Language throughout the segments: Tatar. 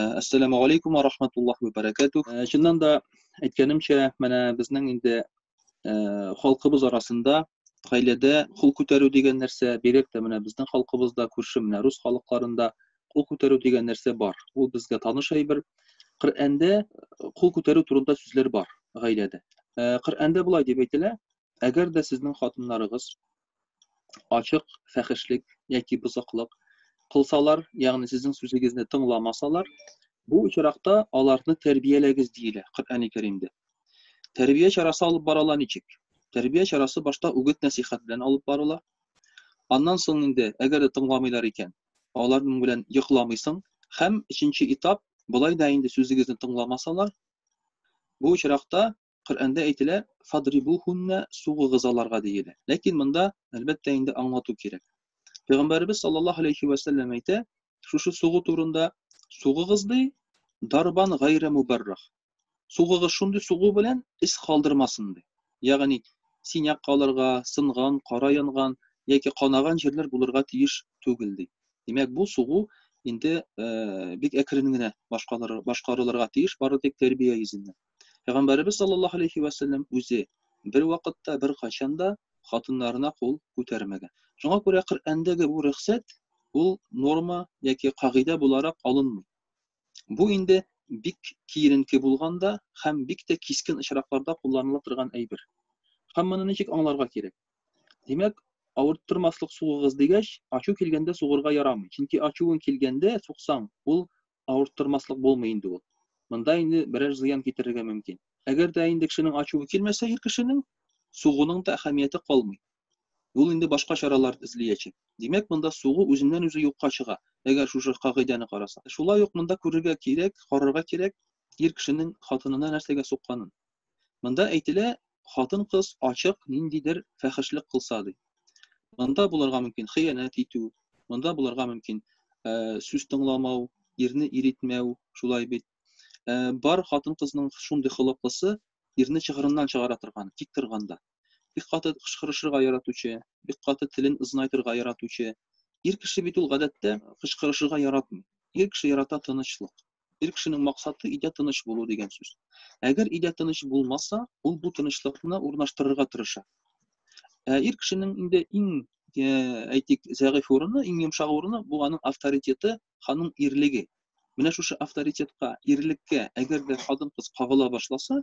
Әссәламу алейкум ва рахматуллах ва баракатух. Чыннан да әйткәнемчә, менә безнең инде халкыбыз арасында гаиләдә кул күтәрү дигән нәрсә, бигрәк тә менә безнең халкыбызда, күрше менә рус халыкларында кул күтәрү дигән нәрсә бар. Ул безгә таныш әйбер. Коръәндә кул күтәрү турында сүзләр бар гаиләдә. Коръәндә болай дип әйтелә, Әгәр дә сезнең хатыннарыгыз ачык фәхешлек яки бозыклык кылсалар, ягъни сезнең сүзегезне тыңламасалар, бу очракта аларны тәрбияләгез диелә Коръәни Кәримдә. Тәрбия чарасы алып барыла ничек? Тәрбия чарасы башта үгет-нәсыйхәт белән алып барыла. Аннан соң инде, әгәр дә тыңламыйлар икән, аларның белән йокламыйсың һәм өченче этап, болай да инде сүзегезне тыңламасалар, бу очракта Коръәндә әйтелә, фадрибухунна сугыгыз аларга диелә. Ләкин монда, әлбәттә, инде аңлату кирәк. Пәйгамбәребез саллаллаһу алейхи ва сәлләм әйтә, шушы сугу турында сугыгыз ди, дарбан гайра мубаррах. Сугыгыз шундый сугу белән ис калдырмасын ди. Ягъни синяк калырга, сынган, кара янган яки канаган җирләр булырга тиеш түгел ди. Димәк, бу сугу инде э, бик әкрен генә башкарылырга тиеш, бары тик тәрбия йөзеннән. Пәйгамбәребез саллаллаһу алейһи вә сәлләм үзе бервакытта, беркайчан да хатыннарына кул күтәрмәгән. Шуңа күрә Коръәндәге бу рөхсәт ул норма яки кагыйдә буларак алынмый. Бу инде бик киеренке булганда һәм бик тә кискен очракларда кулланыла торган әйбер. Һәм моны ничек аңларга кирәк? Димәк, авырттырмаслык сугыгыз дигәч, ачу килгәндә сугырга ярамый. Чөнки ачуың килгәндә сугсаң, ул авырттырмаслык булмый инде ул. Монда инде берәр зыян китерергә мөмкин. Әгәр дә инде кешенең ачуы килмәсә ир кешенең, сугуның да әһәмияте калмый. Ул инде башка чаралар эзлиячәк. Димәк, монда сугу үзеннән-үзе юкка чыга, әгәр шушы кагыйдәне караса. Шулай ук монда күрергә кирәк, карарга кирәк ир кешенең хатынына нәрсәгә сукканын. Монда әйтелә, хатын-кыз ачык ниндидер фәхешлек кылса ди. Монда булырга мөмкин хыянәт итү, монда булырга мөмкин э, сүз тыңламау, ирне иритмәү, шулай бит. Э, бар хатын-кызның шундый холыклысы ирне чыгырыннан чыгара торган, тик торганда. Бик каты кычкырышырга яратучы, бик каты телен ызнайтырга яратучы. Ир кеше бит ул гадәттә кычкырышырга яратмый. Ир кеше ярата тынычлык. Ир кешенең максаты өйдә тыныч булу дигән сүз. Әгәр өйдә тыныч булмаса, ул бу тынычлыкны урнаштырырга тырыша. Ә ир кешенең инде иң э, әйтик, зәгыйфь урыны, иң йомшак урыны бу аның авторитеты, ханың ирлеге. Менә шушы авторитетка, ирлеккә, әгәр дә хатын-кыз кагыла башласа,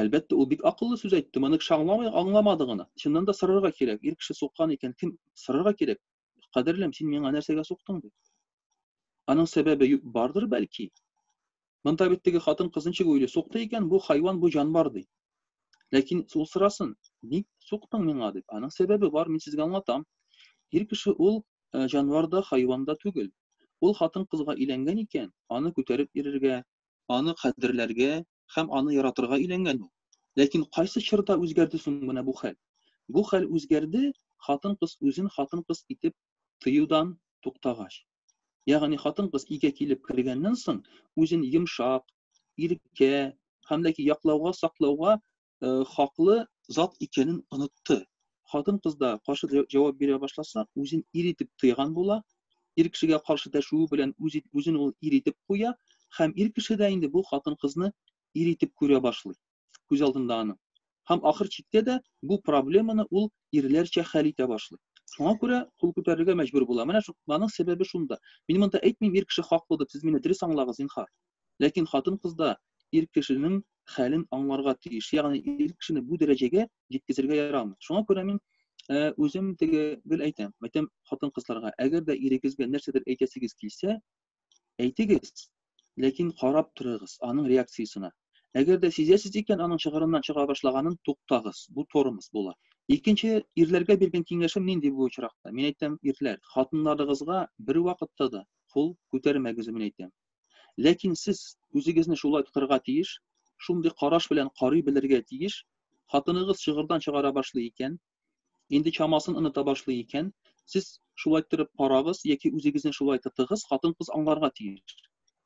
Әлбәттә, ул бик акыллы сүз әйтте, моны кеше аңламый, аңламады гына. Чыннан да сорарга кирәк, ир кеше суккан икән, кем сорарга кирәк? Кадерлем, син миңа нәрсәгә суктың дип. Аның сәбәбе бардыр бәлки. Монда бит теге хатын кыз ничек уйлый, сукты икән, бу хайван, бу җанвар ди. Ләкин ул сорасын, ник суктың миңа дип. Аның сәбәбе бар, мин сезгә аңлатам. Ир кеше ул җанвар да, хайван да түгел. Ул хатын кызга иләнгән икән, аны күтәреп йөрергә, аны кадерләргә һәм аны яратырга өйләнгән ул. Ләкин кайсы чорда үзгәрде соң менә бу хәл? Бу хәл үзгәрде, хатын-кыз үзен хатын-кыз итеп тоюдан туктагач. Ягъни хатын-кыз өйгә килеп кергәннән соң, үзен йомшак, иркә һәм ләки яклауга, саклауга хаклы зат икәнен онытты. Хатын-кыз да каршы җавап бирә башласа, үзен ир итеп тыйган була, ир кешегә каршы дәшүе белән үз үзен ул ир итеп куя һәм ир кеше дә инде бу хатын-кызны ир итеп күрә башлый. Күз алдында аның. Һәм ахыр чиктә дә бу проблеманы ул ирләрчә хәл итә башлый. Шуңа күрә кул күтәрергә мәҗбүр була. Менә шуның сәбәбе шунда. Мин монда әйтмим, ир кеше хаклы дип, сез мине дөрес аңлагыз, зинһар. Ләкин хатын-кыз да ир кешенең хәлен аңларга тиеш, ягъни ир кешене бу дәрәҗәгә җиткезергә ярамый. Шуңа күрә мин үзем теге гел әйтәм, әйтәм хатын-кызларга, әгәр дә ирегезгә нәрсәдер әйтәсегез килсә, әйтегез, ләкин карап торыгыз аның реакциясенә. Әгәр дә сизәсез икән, аның чыгырыннан чыга башлаганын туктагыз. Бу тормоз була. Икенче ирләргә биргән киңәшем нинди бу очракта? Мин әйтәм, ирләр, хатыннарыгызга бервакытта да кул күтәрмәгез, мин әйтәм. Ләкин сез үзегезне шулай тотарга тиеш, шундый караш белән карый белергә тиеш, хатыныгыз чыгырдан чыгара башлый икән, инде чамасын оныта башлый икән, сез шулай торып карагыз яки үзегезне шулай тотыгыз, хатын-кыз аңларга тиеш.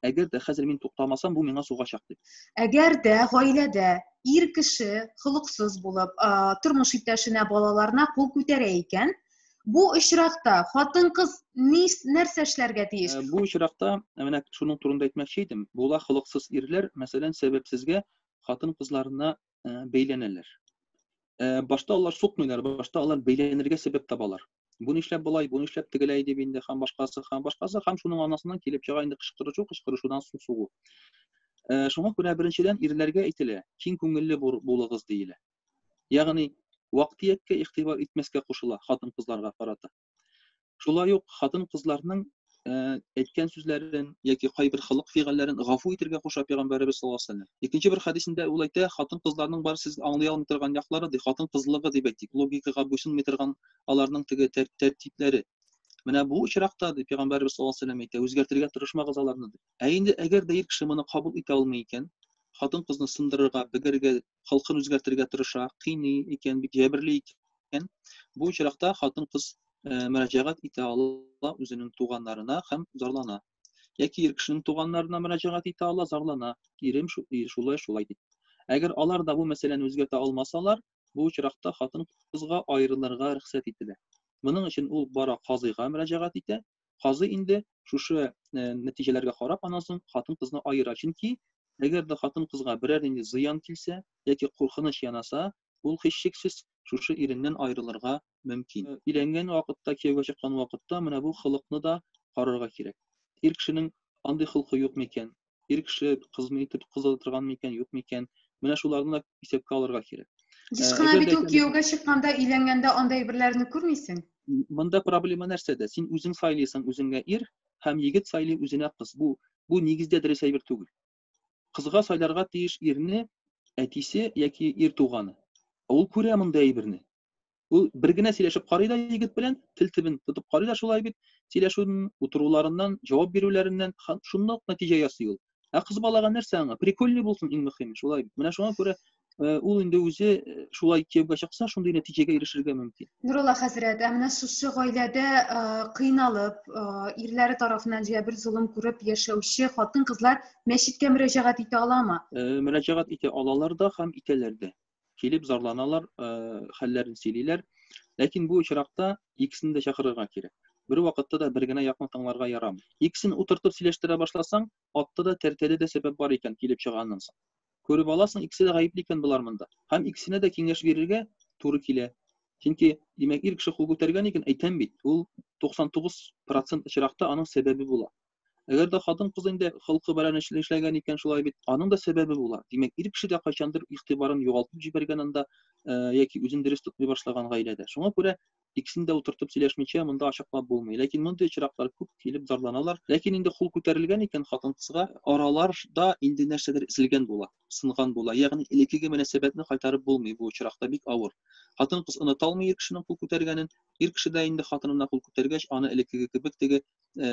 Әгәр дә хәзер мин туктамасам, бу миңа сугачак дип. Әгәр дә гаиләдә ир кеше холыксыз булып, тормыш иптәшенә, балаларына кул күтәрә икән, Бу очракта хатын-кыз нәрсә эшләргә тиеш? Э, бу очракта э, менә шуның турында әйтмәкче идем. Була холыксыз ирләр, мәсәлән, сәбәпсезгә хатын-кызларына э, бәйләнәләр. Башта алар сукмыйлар, башта алар бәйләнергә сәбәп табалар. Бу нишләп болай, бу нишләп тегеләй дип инде һәм башкасы, һәм башкасы, һәм шуның анасыннан килеп чыга инде кычкырышу, кычкырышудан су сугу. Шуңа күрә беренчедән ирләргә әйтелә, киң күңелле булыгыз диелә. Ягъни, вак-төяккә игътибар итмәскә кушыла хатын-кызларга карата. Шулай ук хатын-кызларның әйткән сүзләрен яки кайбер холык-фигыльләрен гафу итергә куша Пәйгамбәребез саллаллаһу алейһи вәсәлләм. Икенче бер хәдисендә ул әйтә, хатын-кызларның бар сез аңлый алмый торган яклары, ди, хатын-кызлыгы дип әйтик, логикага буйсынмый торган аларның теге тәртипләре. Менә бу очракта, ди Пәйгамбәребез саллаллаһу алейһи вәсәлләм әйтә, үзгәртергә тырышмагыз аларны, ди. Ә инде әгәр дә ир кеше моны кабул итә алмый икән, хатын-кызны сындырырга, бегәргә халкын үзгәртергә тырыша, кыйный икән, бик җәберли икән, бу очракта хатын-кыз э, мөрәҗәгать итә ала үзенең туганнарына һәм зарлана. Яки ир кешенең туганнарына мөрәҗәгать итә ала, зарлана. Ирем шулай, шулай дип. Әгәр алар да бу мәсьәләне үзгәртә алмасалар, бу очракта хатын-кызга аерылырга рөхсәт ителә. Моның өчен ул бара казыйга мөрәҗәгать итә, Казый инде шушы э, нәтиҗәләргә карап аннан соң хатын-кызны аера. Чөнки әгәр дә хатын-кызга берәр нинди зыян килсә яки куркыныч янаса, ул һичшиксез шушы иреннән аерылырга мөмкин. Э, өйләнгән вакытта, кияүгә чыккан вакытта менә бу холыкны да карарга кирәк. Ир кешенең андый холкы юк микән? ир кеше кызмы итеп кыз ала торган микән, юк микән? Менә шуларны да исәпкә алырга кирәк. Еш кына бит ул кияүгә чыкканда, өйләнгәндә андай берләрне күрмисең. Монда проблема нәрсәдә? Син үзең сайлыйсың үзеңә ир һәм егет сайлый үзенә кыз. Бу бу нигездә дөрес әйбер түгел. Кызга сайларга тиеш ирне әтисе яки ир туганы. Ул күрә монда әйберне. Ул бер генә сөйләшеп карый да егет белән, тел тибен тотып карый да шулай бит, сөйләшүен, утыруларыннан, җавап бирүләреннән шундый ук нәтиҗә ясый ул. Ә кыз балага нәрсә аңа? Прикольный булсын иң мөһиме, шулай бит. Менә шуңа күрә э, ул инде үзе э, шулай кияүгә чыкса, шундый нәтиҗәгә ирешергә мөмкин. Нурулла хәзрәт, ә менә шушы гаиләдә э, кыйналып, ирләре тарафыннан җә бер золым күреп яшәүче хатын-кызлар мәчеткә мөрәҗәгать итә аламы? Мөрәҗәгать итә алалар да һәм итәләр дә. килеп зарланалар, хәлләрен сөйлиләр. Ләкин бу очракта икесен дә чакырырга кирәк. Бер вакытта да бер генә якны тыңларга ярамый. Икесен утыртып сөйләштерә башласаң, атта да тәртәдә дә сәбәп бар икән килеп чыганнан соң. Күреп аласың, икесе дә гаепле икән болар монда. Һәм икесенә дә киңәш бирергә туры килә. Чөнки, димәк, ир кеше кул күтәргән икән, әйтәм бит, ул 99% очракта аның сәбәбе була. Әгәр дә хатын-кыз инде холкы белән эшләгән икән, шулай бит, аның да сәбәбе була. Димәк, ир кеше дә кайчандыр игътибарын югалтып җибәргән анда яки үзен дөрес тотмый башлаган гаиләдә. Шуңа күрә икесен дә утыртып сөйләшмичә монда ачыклап булмый. Ләкин мондый очраклар күп килеп зарланалар. Ләкин инде хул күтәрелгән икән хатын-кызга, араларда инде нәрсәдер эзелгән була, сынган була. Ягъни элеккеге мөнәсәбәтне кайтарып булмый бу очракта, бик авыр. Хатын-кыз оныта алмый ир кешенең кул күтәргәнен. Ир кеше дә инде хатынына кул күтәргәч, аны элеккеге кебек теге ә,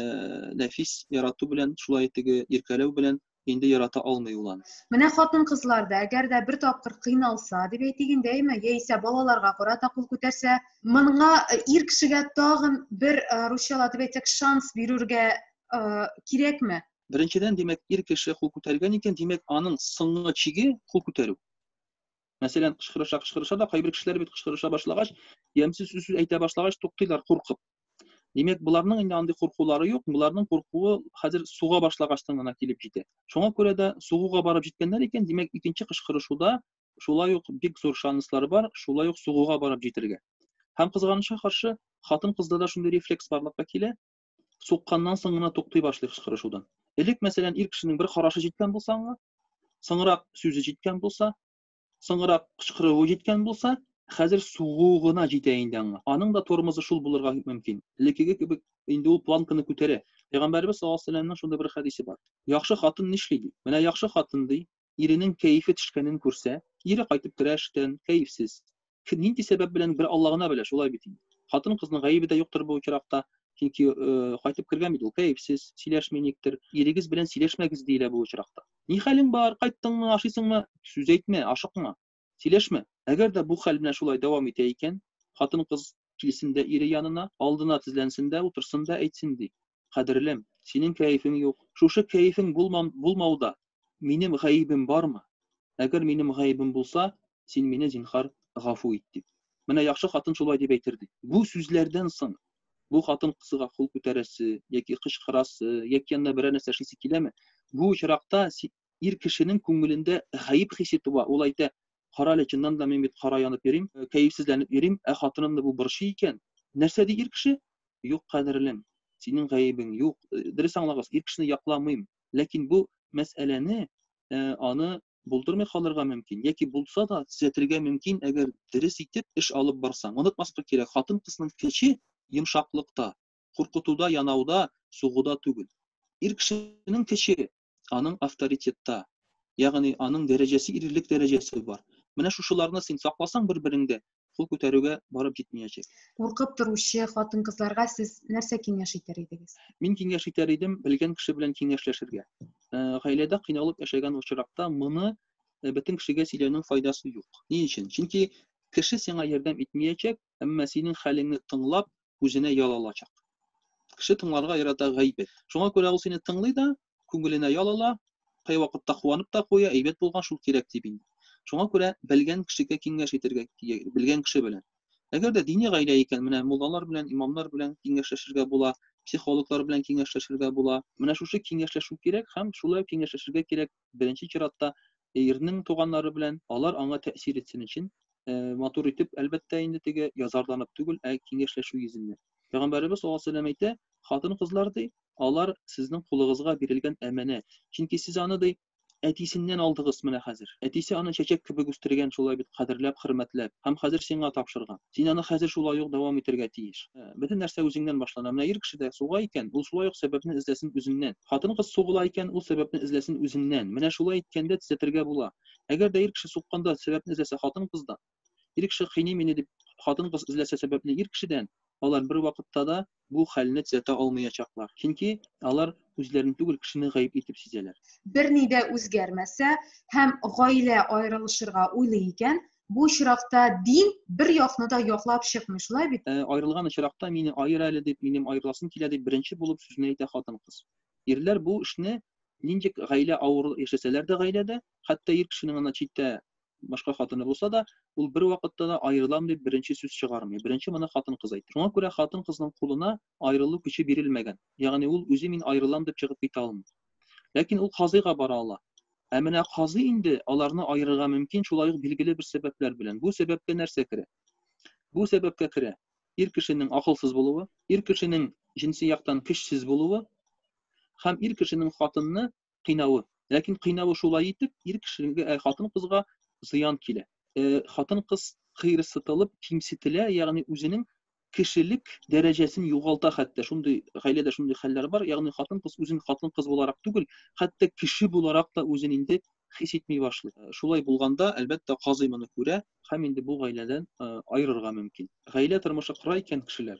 нәфис ярату белән, шулай теге иркәләү белән инде ярата алмый ул аны. Менә хатын кызлар да, әгәр дә бер тапкыр кыйналса, дип әйтик инде, әйме, яисә балаларга карата кул күтәрсә, моңа э, ир кешегә тагын бер э, русчала дип әйтсәк шанс бирергә э, кирәкме? Беренчедән, димәк, ир кеше кул күтәргән икән, димәк, аның соңгы чиге кул күтәрү. Мәсәлән, кычкырыша, кычкырыша да кайбер кешеләр бит кычкырыша башлагач, ямьсез сүз әйтә башлагач туктыйлар куркып. Димәк, боларның инде андый куркулары юк, боларның куркуы хәзер суга башлагачтан гына килеп җитә. Шуңа күрә дә сугуга барып җиткәннәр икән, димәк, икенче кычкырышуда шулай ук бик зур шанслар бар, шулай ук сугуга барып җитергә. Һәм кызганычка каршы, хатын-кызда да шундый рефлекс барлыкка килә, сукканнан соң гына туктый башлый кычкырышудан. Элек, мәсәлән, ир кешенең бер карашы җиткән булса аңа, соңрак сүзе җиткән булса, соңрак кычкыруы җиткән булса, хәзер сугу гына җитә инде аңа. Аның да тормозы шул булырга мөмкин. Элеккеге кебек инде ул планканы күтәрә. Пәйгамбәрбез саллаллаһу алейһи ва сәлләмнең шундый бер хәдисе бар. Яхшы хатын нишли ди? Менә яхшы хатын ди, иренең кәефе төшкәнен күрсә, кире кайтып керә эштән, кәефсез. Кем нинди сәбәп белән, бер Алла гына белә, шулай бит инде. Хатын-кызның гаебе дә юктыр бу очракта, чөнки кайтып кергән бит ул кәефсез, сөйләшми никтер. Ирегез белән сөйләшмәгез, диелә бу очракта. Ни хәлең бар, кайттыңмы, ашыйсыңмы? Сүз әйтмә, ашыкма. Сөйләшмә. Әгәр дә бу хәл менә шулай дәвам итә икән, хатын-кыз килсен дә ире янына, алдына тезләнсен дә утырсын да әйтсен ди, Кадерлем, синең кәефең юк. Шушы кәефең булмам, булмауда минем гаебем бармы? Әгәр минем гаебем булса, син мине, зинһар, гафу ит, дип. Менә яхшы хатын шулай дип әйтер, ди. Бу сүзләрдән соң бу хатын-кызга кул күтәрәсе яки кычкырасы, яки янына берәр нәрсә эшлисе киләме? Бу очракта ир кешенең күңелендә гаеп хисе туа, ул әйтә, Карале, чыннан да мин бит кара янып йөрим, кәефсезләнеп йөрим, ә хатынымны бу борчый икән. Нәрсә ди ир кеше? Юк, кадерлем, синең гаебең юк. Дөрес аңлагыз, ир кешене якламыйм, ләкин бу мәсьәләне, аны булдырмый калырга мөмкин, яки булса да, төзәтергә мөмкин, әгәр дөрес итеп эш алып барсаң. Онытмаска кирәк, хатын-кызның көче йомшаклыкта, куркытуда, янауда, сугуда түгел. Ир кешенең көче, аның авторитетта, ягъни аның дәрәҗәсе ирлек дәрәҗәсе бар. Менә шушыларны син сакласаң бер-береңдә, кул күтәрүгә барып җитмиячәк. Куркып торучы хатын-кызларга сез нәрсә киңәш итәр идегез? Мин киңәш итәр идем, белгән кеше белән киңәшләшергә. Э, гаиләдә кыйналып яшәгән очракта моны э, бөтен кешегә сөйләүнең файдасы юк. Ни өчен? Чөнки кеше сиңа ярдәм итмиячәк, әмма синең хәлеңне тыңлап, үзенә ял алачак. Кеше тыңларга ярата гайбәт. Шуңа күрә ул сине тыңлый да, күңеленә ял ала, кайвакытта куанып та куя, әйбәт булган шул кирәк дип инде. Шуңа күрә белгән кешегә киңәш итәргә, белгән кеше белән. Әгәр дә дини гаилә икән, менә муллалар белән, имамнар белән киңәшләшергә була, психологлар белән киңәшләшергә була. Менә шушы киңәшләшү кирәк һәм шулай киңәшләшергә кирәк беренче чиратта ирнең туганнары белән алар аңа тәэсир итсен өчен э, матур итеп әлбәттә инде теге язарланып түгел ә киңәшләшү йөзеннән пәйгамбәребез саллаллаху алейһи вәсәләм әйтә хатын кызлар ди алар сезнең кулыгызга бирелгән әманәт чөнки сез аны ди әтисеннән алдыгыз менә хәзер әтисе аны чәчәк кебек үстергән шулай бит кадерләп хөрмәтләп һәм хәзер сиңа тапшырган Син аны хәзер шулай ук дәвам итәргә тиеш. Бөтен нәрсә үзеңнән башлана. Менә ир кеше дә суга икән, ул шулай ук сәбәпне эзләсен үзеннән. Хатын-кыз сугыла икән, ул сәбәпне эзләсен үзеннән. Менә шулай иткәндә төзәтергә була. Әгәр дә ир кеше сукканда сәбәпне эзләсә хатын-кыздан, ир кеше кыйный мине дип хатын-кыз эзләсә сәбәпне ир кешедән, алар бервакытта да бу хәлне төзәтә алмыячаклар, чөнки алар үзләрен түгел, кешене гаеп итеп сизәләр. Берни дә үзгәрмәсә һәм гаилә аерылышырга уйлый икән, бу очракта дин бер якны да яклап чыкмый, шулай бит? Ә аерылган очракта, мине аер әле дип, минем аерыласым килә дип, беренче булып сүзне әйтә хатын-кыз. Ирләр бу эшне нинди гаилә авыр яшәсәләр дә гаиләдә, хәтта ир кешенең ана читтә башка хатыны булса да, ул бер вакытта да аерылам дип беренче сүз чыгармый. Беренче моны хатын-кыз әйтә. Шуңа күрә хатын-кызның кулына аерылу көче бирелмәгән. Ягъни ул үзе мин аерылам дип чыгып китә алмый. Ләкин ул казыйга бара ала. Ә менә казый инде аларны аерырга мөмкин шулай ук билгеле бер сәбәпләр белән. Бу сәбәпкә нәрсә керә? Бу сәбәпкә керә ир кешенең акылсыз булуы, ир кешенең җенси яктан көчсез булуы һәм ир кешенең хатынны кыйнавы. Ләкин кыйнавы шулай итеп, ир кешегә, э, хатын-кызга зыян килә. Э, хатын-кыз кыерсытылып, кимсетелә, ягъни үзенең кешелек дәрәҗәсен югалта хәтта. Шундый гаиләдә шундый хәлләр бар. Ягъни хатын-кыз үзен хатын-кыз буларак түгел, хәтта кеше буларак та үзен инде хис итми башлый. Э, шулай булганда, әлбәттә, казый моны күрә һәм инде бу гаиләдән э, аерырга мөмкин. Гаилә тормышы кыра икән кешеләр.